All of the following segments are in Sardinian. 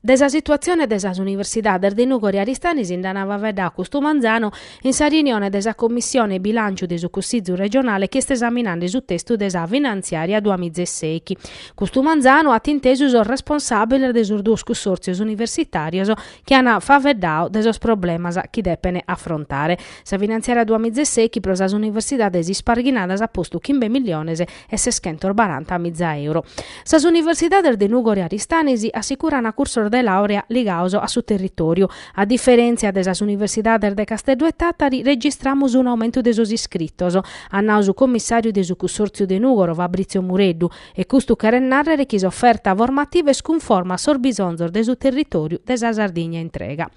De sa situatzione de sas universidades de Nùgoro e Aristanis nd'an faeddadu custu manzanu in sa reunione de sa Commissione Bilànciu de su Cussizu regionale chi est esaminende su testu de sa Finanziària duamila e sèichi, custu manzanu, at intesu sos responsàbiles de sos duos cussòrtzios universitàrios chi an faeddadu de sos problemas chi depene afrontare. Sa Finanziària duamila e sèichi pro sas universidades isparghinadas at postu chimbe milliones e seschentos baranta miza euro. Sas universidades de Nùgoro e Aristanis assicurana cursos de làurea ligados a su territòriu. A diferèntzia de sas universidades de Casteddu e Tàtari registramus un'aumentu de sos iscritos, at nau su commissàriu de su cussòrtziu de Nùgoro Fabrizio Mureddu, e custu cheret nàrrere chi s'oferta formativa est cunforma a sos bisonzos de su territòriu de sa Sardigna intrega.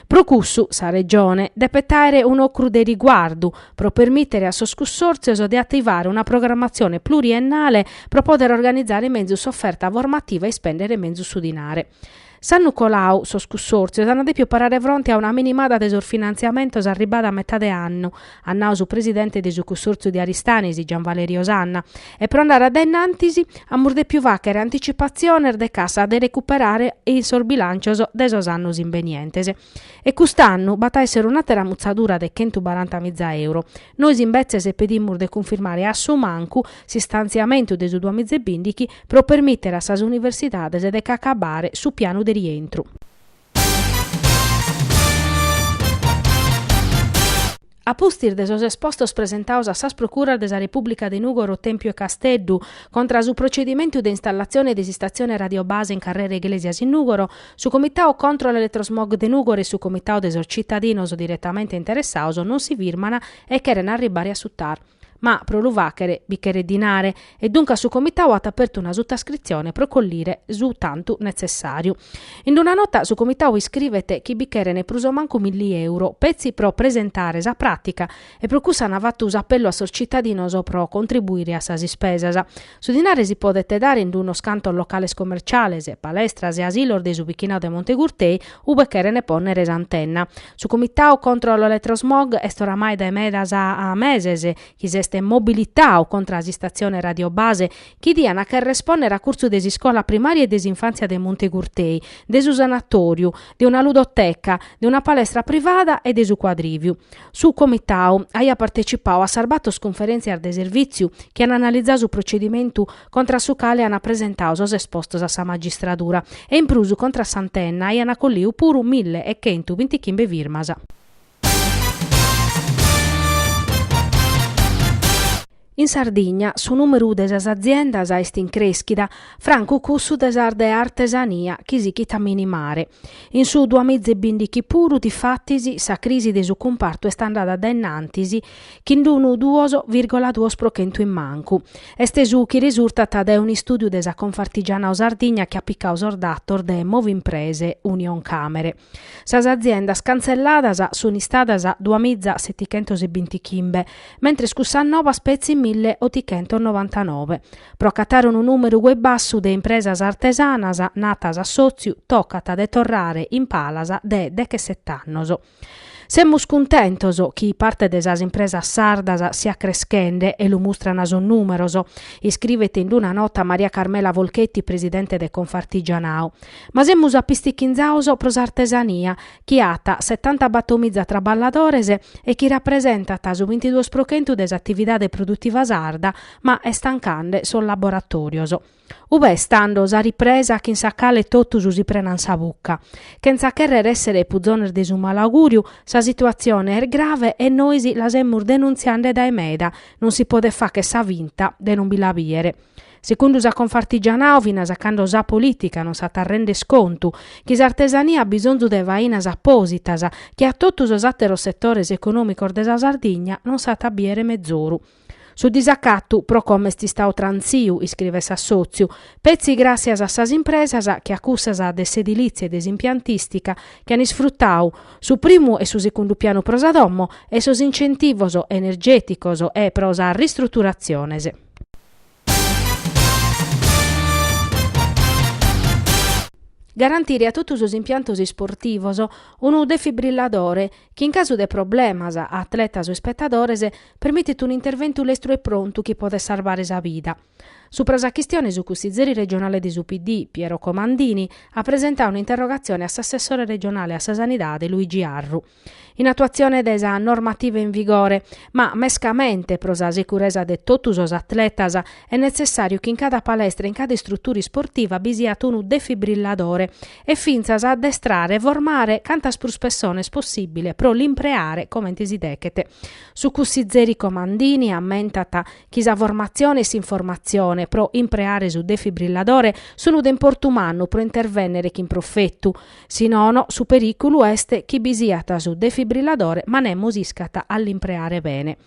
Pro cussu sa Regione depet àere un'ocru de riguardu pro permìtere a sos cussòrtzios de ativare una programatzione pluriennale pro pòdere organizare menzus s'oferta formativa e ispèndere menzus su dinare. S'annu coladu sos cussòrtzios ant dèpidu parare fronte a una minimada de sos finantziamentos arribada a metade de annu, at nau su presidente de su cussòrtziu de Aristanis, Gian Valerio Sanna. E pro andare a dae innantis, amus dèpiu fàghere anticipatziones de cassa de recuperare in sos bilàncios de sos annos imbenientes. E cust'annu b'at a èssere un'àtera mutzadura de chentu baranta miza euro. Nois imbetzes pedimus de cunfirmare a su mancu s'istantziamentu de su duamiza e bìndighi pro permìtere a sas universidades de ch'acabare su pianu de rientru. A pustis de sos espostos presentados a sas procuras de sa Repùblica de Nùgoro, Tèmpiu e Casteddu, contra a su procedimentu de installatzione de s'Istatzione Radiobase in Carrera Iglesias in Nùgoro, su Comitau contro l'Elettrosmog de Nùgoro e su Comitau de sos Citadinos diretamente interessados non si firman e cheren arribare a su TAR. Ma pro lu fàghere bi cheret dinare e duncas su Comitau at apertu una sutascritzione pro collire su tantu netzessàriu. In una nota su Comitau iscrivet chi bi cheren prus o mancu milli euro petzi pro presentare sa pràtica e pro cussu an fatu s'apellu a sos tzitadinos pro contribuire a sas ispesas. Su dinare si podet dare in d'unos cantos locales commerciales, palestras e asilos de su bichinadu de Monte Gurtei ube cherent pònnere s'antenna. Su Comitadu contro l'Elettrosmog est oramai dae medas a meses chi s'est mobilitadu contra a s'istatzione Radio Base chi diana chèrrere pònnere a curtzu de s'iscola primària e de s'infàntzia de Monte Gurtei, de su sanatòriu, de una ludoteca, de una palestra privada e de su cuadrìviu. Su Comitau aiat partecipau a sas bator cunferèntzias de servìtziu chi an analizau su procedimentu contra su cale ant presentau sos espostos a sa magistradura e in prus contra s'antenna aiant colliu puru mille e chentu bintichimbe firmas. In Sardigna su nùmeru de sas aziendas est in crèschida, francu cussu de sas de artesania chi sighit a minimare. In su duamiza e bìndighi puru, difatis, sa crisi de su cumpartu est andada dae innantis chin unu duos vìrgola duos pro chentu in mancu. Est su chi resurtat dae un'istùdiu de sa Confartigianato Sardigna chi at picadu sos datos de Movimprese, Unioncamere. Sas aziendas cantzelladas sunt istadas duas miza setichentos e bintichimbe, mentres cussas nobas petzi mille otichentos novantanove. Pro acatare unu nùmeru goi bassu de impresas artesanas narat s'assòtziu tocat de torrare in palas de dechesset'annos. Semus cuntentos chi parte de sas impresas sardas siat creschende e lu mustran sos nùmeros, iscrivet in una nota Maria Carmela Folchetti, presidente de Confartigianato. Ma semus apistichinzados pro s'artesania, chi at setanta battomiza traballadores e chi rapresentat su bintiduos pro chentu de s'atividade produtiva sarda, ma est tancande sos laboratòrios. Ube est tando sa ripresa chin sa cale totus si prenan sa buca? Chentza chèrrere èssere puzones de su malaugùriu, sa situatzione est grave e nois la semus denuntziande dae meda, non si podet fàghere sa finta de non bi la bìdere. Secundu sa Confartigianato finas a cando sa polìtica non s'at a render contu chi s'artesania at bisonzu de fainas apòsitas che a totu sos àteros setores econòmicos de sa Sardigna non s'at a bìdere mezoru. Su disacatu pro como est istadu trantziu, iscrivet s'assòtziu, petzi gràssias a sas impresas che a cussas de s'edilìtzia e de s'impiantìstica chi an isfrutadu su primu e su segundu pianu pro sa domo e sos incentivos energèticos e pro sas ristruturatziones. Garantire a totu sos impiantos isportivos unu defibrilladore chi in casu de problemas a atletas o ispetadores permitit un'interventu lestru e prontu chi podet sarvare sa vida. Supra sa chistione su cussizeri regionale de su PD, Piero Comandini, at presentadu un'interrogatzione a s'assessore regionale a sa Sanidade, Luigi Arru. in atuatzione de sa normativa in vigore, ma mescamente pro sa securesa de totu sos atletas est netzessàriu chi in cada palestra e in cada istrutura isportiva bi siat unu defibrilladore e fintzas addestrare e formare cantas prus pessones possìbile pro l'impreare comente si deghet. Su cussizeri Comandini ammentat chi sa formatzione e s'informatzione pro impreare su defibrilladore sunt de importu mannu pro intervènnere chin profetu, Si nono, su perìculu est chi bi siat su defibrilladore ma nemus iscat a l'impreare bene.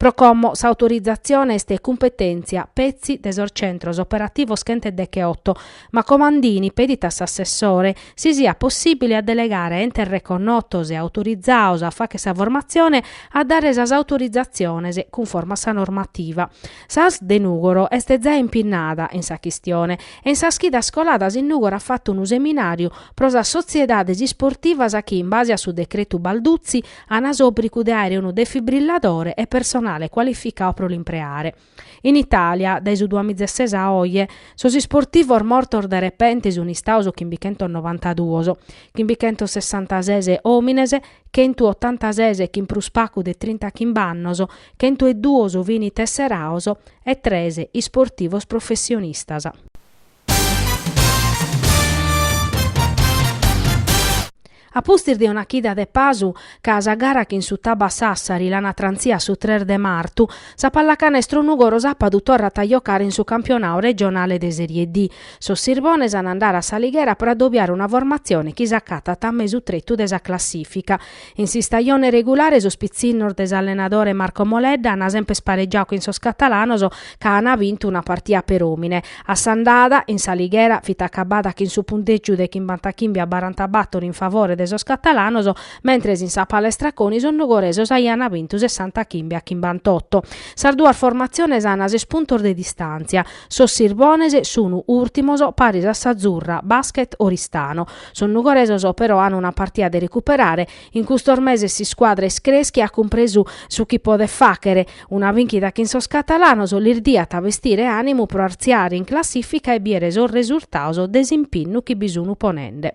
Pro como s'autorizatzione est cumpetèntzia petzi de sos centros operativos chent'e deghe oto, ma Comandini pedit a s'assessore si siat possìbile a delegare entes reconnotos e autorizados a fagher sa formatzione a dare sas autorizatziones cunforma a sa normativa. S'Asl de Nùgoro est zai impinnada in sa chistione e in sas chidas coladas in Nùgoro at fatu unu seminàriu pro sas sotziedades isportivas chi, in base a su decretu Balduzzi, ant s'òbrigu de àere unu defibrilladore e personale cualificadu pro l'impreare. In Itàlia, dae su duas mìgia e ses a oje, sos isportivos mortos de repente sunt istados chimbichentos novantaduos, chimbichentos sessantases òmines, chentu otantases chin prus pagu de trintachimb'annos, Chentu e duos fini tesseraos e tres isportivos professionistas. A pustis de una chida de pasu, ca sa gara chin su Taba Sassari l'an trantzia a su tres de martu, sa Pallacanestro Nùgoro sàpadu torrat a jocare in su campionau regionale de Serie D. Sos Sirbones an a andare a S'Alighera pro adobiare una formatzione chi s'acatat a mesu tretu de sa classìfica. In s'istajone regulare sos pitzinnos de s'allenadore Marco Moledda an semper sparegiadu chin sos catalanos ca an bintu una partia peròmine. A s'andada, in s'Alighera, fit acabada chin su puntègiu de chimbantachimbe a barantabàtoro in favore de sos catalanos, mentres in sa Palestra Coni sos nugoresos aian bintu sessantachimbe a chimbantoto. Sas duas formatziones an ses puntos de distàntzia. Sos sirbones sun ùrtimos paris a s'Azzurra Basket Oristano. Sos nugoresos però an una partia de recuperare, in custos meses s'iscuadra est crèschia, at cumpresu su chi podet fàghere, una binchida chin sos catalanos lis diat bestire ànimu pro artziare in classìfica e bìere sos resurtados de s'impinnu chi bi sun ponende.